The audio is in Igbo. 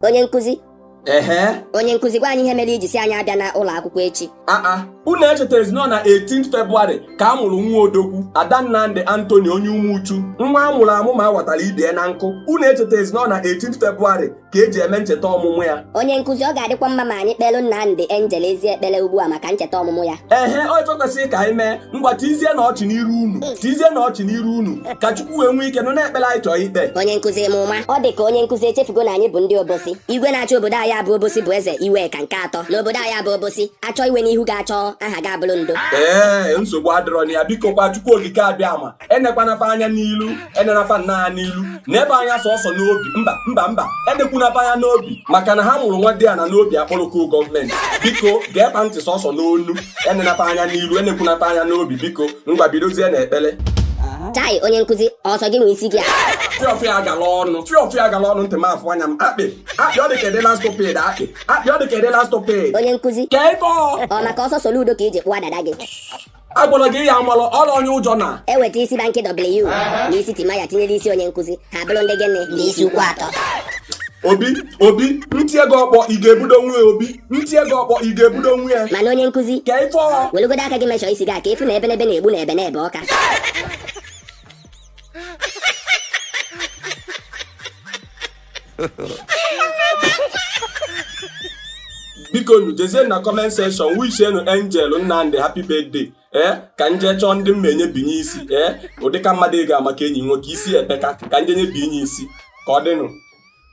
onye nkụzi ehe onye nkụzi gwa anyị ihe mere i ji sị anyị abịana ụlọ akwụkwọ echi aa unu echetarọzi na ọ na 18 Febụwarị ka a mụrụ nwa odogwu Ada Nnamdị Anthony onye Umuchu nwa a mụrụ amụ ma a watara ibe ya na nkụ unu echetarọzi na ọ na 18 Febụwarị ka e ji eme ncheta ọmụmụ ya onye nkụzi ọ ga-adịkwa mma ma anyị kpelụ Nnamdị Angel ezi ekpere ugbu a maka ncheta ọmụmụ ya ehe ọ ife kwesịrị ka anyị mee ngwa tizie na ọchị n'iru unu tizie na ọchị n'iru unu ka o wee nwee ike nụ na ekpere anyị chọọ ikpe onye nkụzi eme ụma ọ dị ka onye nkụzi echefugo na anyị bụ ndị Obosi igwe na-achị obodo anyị a bụ Obosi bụ Eze Iweka nke atọ n'obodo anyị a bụ Obosi achọ iwe n'ihu ga-achọ aha ga-abụrụ ndo ee nsogbu adịrọ na ya biko kwa Chukwu Okike Abịama enekwana ba anya n'ilu enena fa anya n'ilu nee ba anya sọsọ n'obi mba mba mba enekwana ba anya n'obi maka na ha mụrụ nwa dị ya na n'obi akpọrọko gọọmenti biko gee ba ntị sọsọ n'ọnụ enena ba anya n'ilu enekwana ba anya n'obi biko ngwa bidozie na ekpere chai onye nkụzi ọ sọ gị nwe isi gị a fiọfịa agala ọnụ fiọfịa agala ọnụ ntị m afụ anya m akpị akpị ọ dị ka edela stoped akpị akpị ọ dị ka edela stoped onye nkụzi ka ebe ọ ọ maka ọsọ Soludo ka i ji kpụwa dada gị agwara gị ya amalụ ọla onye ụjọ na e weta isi Banky W na isi Timaya tinyere isi onye nkụzi ha abụrụ ndị gịnị ndị isi ukwu atọ obi obi ntị ego ọkpọ ị ga-ebudo nwa ya obi ntị ego ọkpọ ị ga-ebudo nwa ya mana onye nkụzi ka ife ọha welugodo aka gị mechọ isi gị a ka efu na ebenebe na-egbu na ebe na ebe ọka biko nu jezie na comment section wishie nụ Angel Nnamdị happy birthday ee ka m je chọọ ndị mma enye binye isi ee ọ dịka mmadụ ị ga-ama ka enyi nwoke isi epeka ka m je nye binye isi ka ọ dịnụ